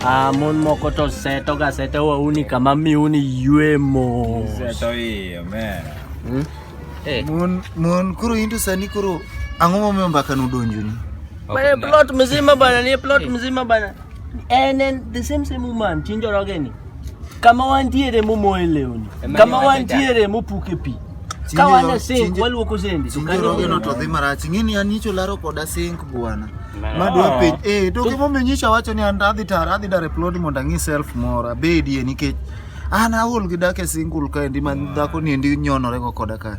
Ah, mon moko to seto ga seto wa uni kama mi uni yuemo. Seto iyo, man. Hmm? Hey. Eh. Mon, mon, kuro hindu sani kuro. Ango mo mba kanu donju ni. Bana plot mzima bana, ni plot mzima bana. And then the same same woman, chinjo rogeni. kama wantiere mumoye lewni kama wantiere mupuke pi ka wan e sink waluoko sende to kanyo rogono to dhi marach ing'eni an nyicho laro koda sink bwana madwa penj eh to gimomiyo nyicha wacho ni an adhi tara adhi dare plod mondo ang'i self mora bedie nikech an aol gi dak e single kaendi ma dhako ni endi nyonore go koda kae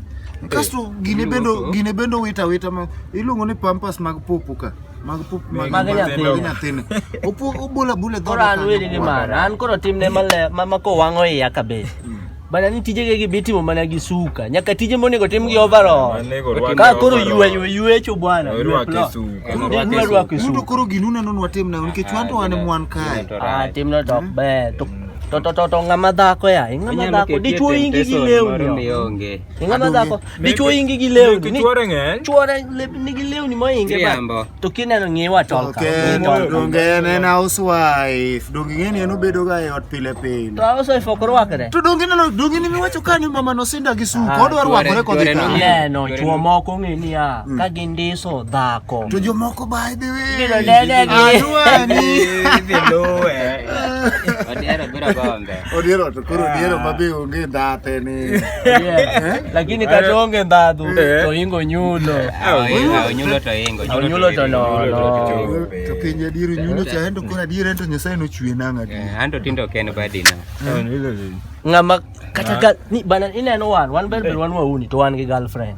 kasto gine bendo gine bendo wita wita ma iluongo ni pampas mag popo ka Magpup, mag- Maga niya, Magpup. Hindi natin. Upo, ubula-bula daw. Koran wele ni man. An koro tim ne male ma mako wango e yakabe. Bana ni tije gege biti mo mana gisuka. Nyaka tije mo nego tim gi overall. Manego rwake Ka koro overall. yue yue yue cho bwana. Yue Rwake plo. su. Ndi Rwake yue su. rwake su. Yudo koro ginuna non watim na nikech wanto wane mwan kae. Ah, tim no top be. To to to to ngama dhako ya. Ngama Onyalo dhako ketie dichuo ingi gi temptation moro lewni. mionge. Inga mazako. Ni chuo ingi gi leo ni. Chuo rengen. Chuo rengen ni gi leo ni mo ingi ba. Triambo. To kine no ngewa tol ka. Okay, donge ne na housewife. Donge ngeni eno bedo ga e ot pile pile. To housewife ok rwakre. To donge no donge ni miwacho ka ni mama no sinda gi su. Kod war wakore kod ka. Ne no chuo moko ngi ni ya. Mm. Ka gindiso dhako. To jo moko by the way. Biro dede gi. Adwa ni. Biro lowe. Odiero biro go. Odiero to koro odiero ma be onge ndhate ni. lakini kata onge ndhadhu to ingo nyulo Onyulo to ingo. onyulo to nono To pinje diero nyulo cha endo koro adiera ento Nyasaye nochwe nang' adiera. Eh, Anto tindo ok en badi na. ng'ama kata ka ni bana ineno wan wan ber ber wan wauni to wan gi girlfriend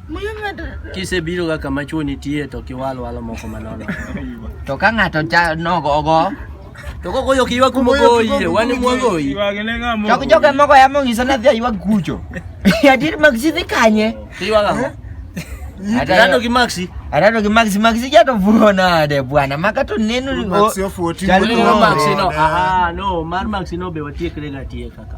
Kisebiro ga kama chuo nitie to kiwal walo moko manono. To ka ng'ato cha nogo ogo. To koko yo kiwa kumo goyi, wani mwa goyi. Chok joge moko ya mongi sana dhia yuwa gucho. Ya dir magsi dhi kanye. Kiwa ga. Atado gi maxi. Atado gi maxi maxi ja to vuo nade bwana. Maka to neno ni. Maxi ofuoti. Chalo ni maxi no. Ah no, mar maxi no be watiekre ga tieka ka.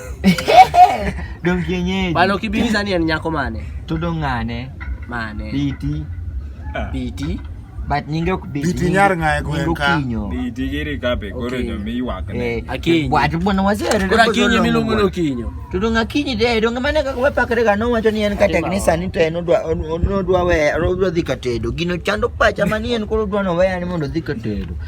Dong kienyeji. Bana ukibiuliza ni nyako mane? To dong ng'ane? Mane? Biti. Ah. Biti. But nyinge ok biti. Biti nyar ng'aye gwen ka. Biti giri kape koro okay. nyomi ywak ne. Eh, akinyi. Watu bwana wazere. Kora kinyi milungu no kinyo. To dong akinyi de dong mane kaka wapakre ga no wacho ni en ka teknisa ni to en odwa odwa we odwa dhi katedo. Gino chando pacha mani en koro odwa no we ani mondo dhi katedo.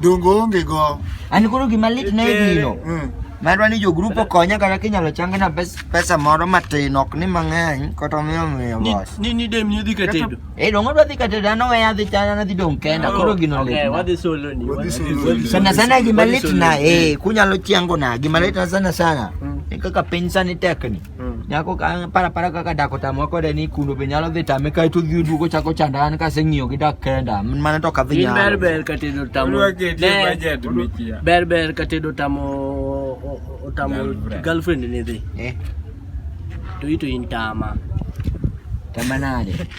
Dongo onge go. An koro gima lit ne gino. Mm. Madwa ni jogrup okonya kata kinyalo changna pesa moro matin ok ni mang'eny kata omiyo miyo boss. Ni ni dem ni dhi katedo. Eh dongo dwa dhi katedo an owe adhi chana na dhi dong kenda oh, koro gino lit. Okay, wadhi solo ni. Sana sana gima lit na eh kunyalo chiango na gima lit na sana sana. Mm. Kaka piny sani tekni. Mm. Nyako ka para para kaka dako tamwa kode ni kuno be nyalo dhi tame kae to dhi duogo chako chanda an kase ng'iyo gi dak kenda mane to ka dhi nyalo. Ber ber ka tedo tamo. Ber ber ka tedo tamo otamo girlfriend ni dhi. Eh. To ito in tama. Tama nade?